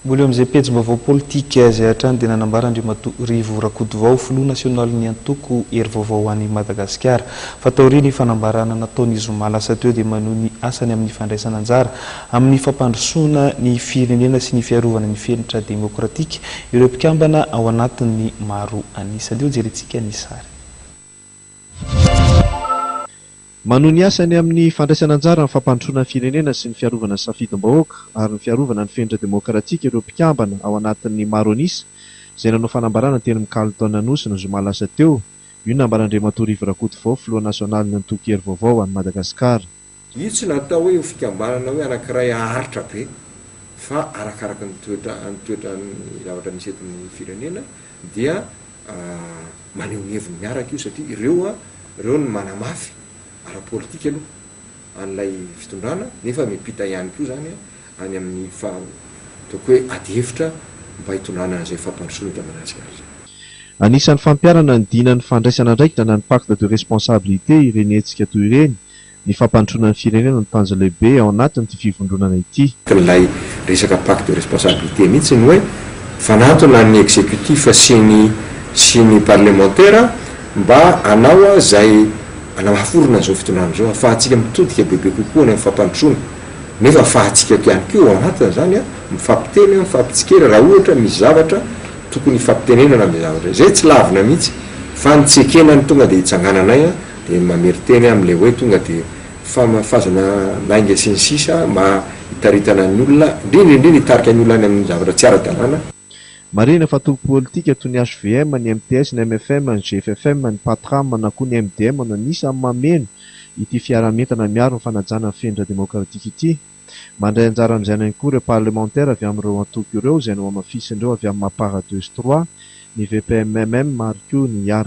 Mbola eo amin'izay pejim-baovao politika izay hatrany dia nanambara Andriamatoa Rivo Rakotovao, filoha nasionalin'ny antoko Hery Vaovao ho an'i Madagasikara, fa taorian'ny fanambarana nataony zoma lasa teo dia manohy ny asany amin'ny fandraisana anjara amin'ny fampandrosoana ny firenena sy ny fiarovana ny fenitra demokratika ireo mpikambana ao anatiny maro an'isa. Andeha hojerentsika ny sary. Manohy ny asany amin'ny fandraisana anjara amin'ny fampandrosoana ny firenena sy ny fiarovana ny safidim-bahoaka ary ny fiarovana ny fenitra demokratika ireo mpikambana ao anatin'ny maro an'isa izay nanao fanambarana teny amin'ny Carlton Anosy ny zoma lasa teo. Io nambaran'Andriamatoa Rivo Rakotovao, filoha nasionalin'ny antoko Hery Vaovao ho an'i Madagasikara. Io tsy natao hoe ho fikambanana hoe anankiray haharitra be fa arakaraka ny toetra ny toetra ny zavatra misy eto amin'ny firenena. dia maneho ny heviny miaraka io satria ireo ireo no manamafy ara-politika aloha an'ilay fitondrana nefa miampita ihany koa izany any amin'ny ataoko hoe adihevitra mba hitondrana an'izay fampandrosoana eto Madagasikara izay. Anisan'ny fampiharana ny dinan'ny fandraisana andraikitra na ny pacte de responsabilité ireny hetsika toy ireny ny fampandrosoana ny firenena no tanjona lehibe ao anatin'ity fivondronana ity. Ilay resaka pacte de responsabilité mihitsy ny hoe fanantona ny executif sy ny sy ny parlemantera mba hanao izay hanaforona izao fitondrana izao hafahantsika mitodika bebe kokoa any amin'ny fampandrosoana nefa hafahantsika ihany koa ao anatin'izany mifampiteny mifampitsikera raha ohatra misy zavatra tokony hifampitenenana amin'izay zavatra izay. Izay tsy lavina mihitsy fa ny tsy ekena no tonga dia hitsangananay dia mamerin-teny amin'ny ilay hoe tonga dia famafazana lainga sy ny sisa mba hitaritana ny olona, indrindra indrindra hitarika ny olona any amin'ny zavatra tsy ara-dalàna. Marihina fa toko politika toy ny hvm, ny mps, ny mfm, ny gffm, ny patram na koa ny mdm no anisan'ny mameno ity fiaraha-mientana miaro ny fanajana ny fenindra-demokratika ity. Mandray anjara amin'izay any koa ireo parlemantera avy amin'ireo antoko ireo izay nohamafisin'ireo avy amin'ny Mapar deux sy trois, ny VPMMM ary koa ny Iar.